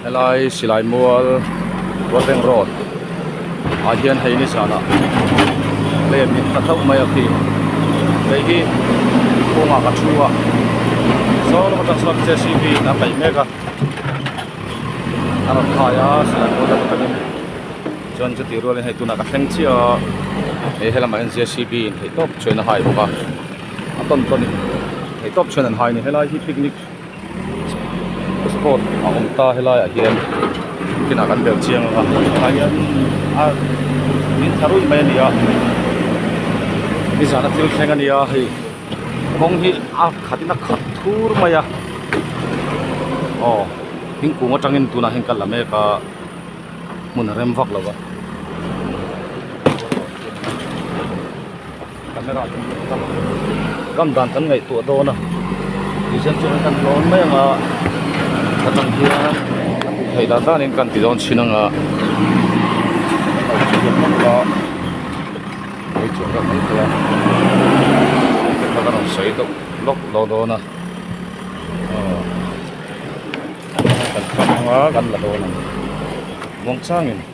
helai silai mual ruateng road ah hian hei ni zan a plate in ka thauh mai a khi hei hi kawng ah ka thu a saw lama tak chuan jcb in a kaih mek a a rawn khai a silai mual lama takin chuan chutirual in hei tunah ka thleng chiah a he lamah hian jcb in theih tawp chuan a hai bawk a. a tawn tawn in ei tawp chhian an hai a ni helai hi picnic spot a awm ta helai ah hian field kan bel chiang anga tunah hian a min thla ruih mai a ni a nizan a thil thleng a ni a hei kawng hi a khat in a khat thur mai a aw thingkung atang in tunah hian ka la mek a hmun a rem vak lo a. Camera chu hmuh ka hmu a, kam dan kan ngaihtuah dawn a, tui zel chu kan han tlawn mai anga ka tan hian a hmuh theih dan danin ka han ti dawn chin anga hmeichhia ka hmu thei a, hetiang kha ka rawn sawi deuh lawk lo dawn a aw kan kham anga kan la dawn ang muang changin.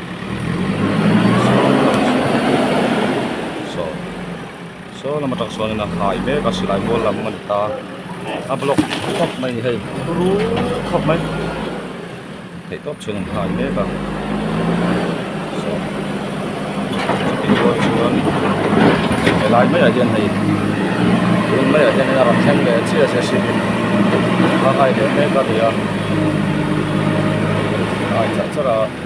saw lama tak chuan in a khai mek a silai kual lam a ni ta a block khawp mai a ni hei pu ru khawp mai theih tawp chhin an khai mek a saw chutih zawk chuan he lai mai ah hian hei tun mai ah hian in a rawn thleng leh chiah chiah si in a khai leh mek a ni a a khai char char a.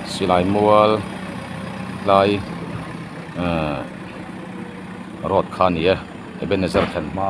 silai mual lai ehh road kha a ni e ebenezer thlen hma.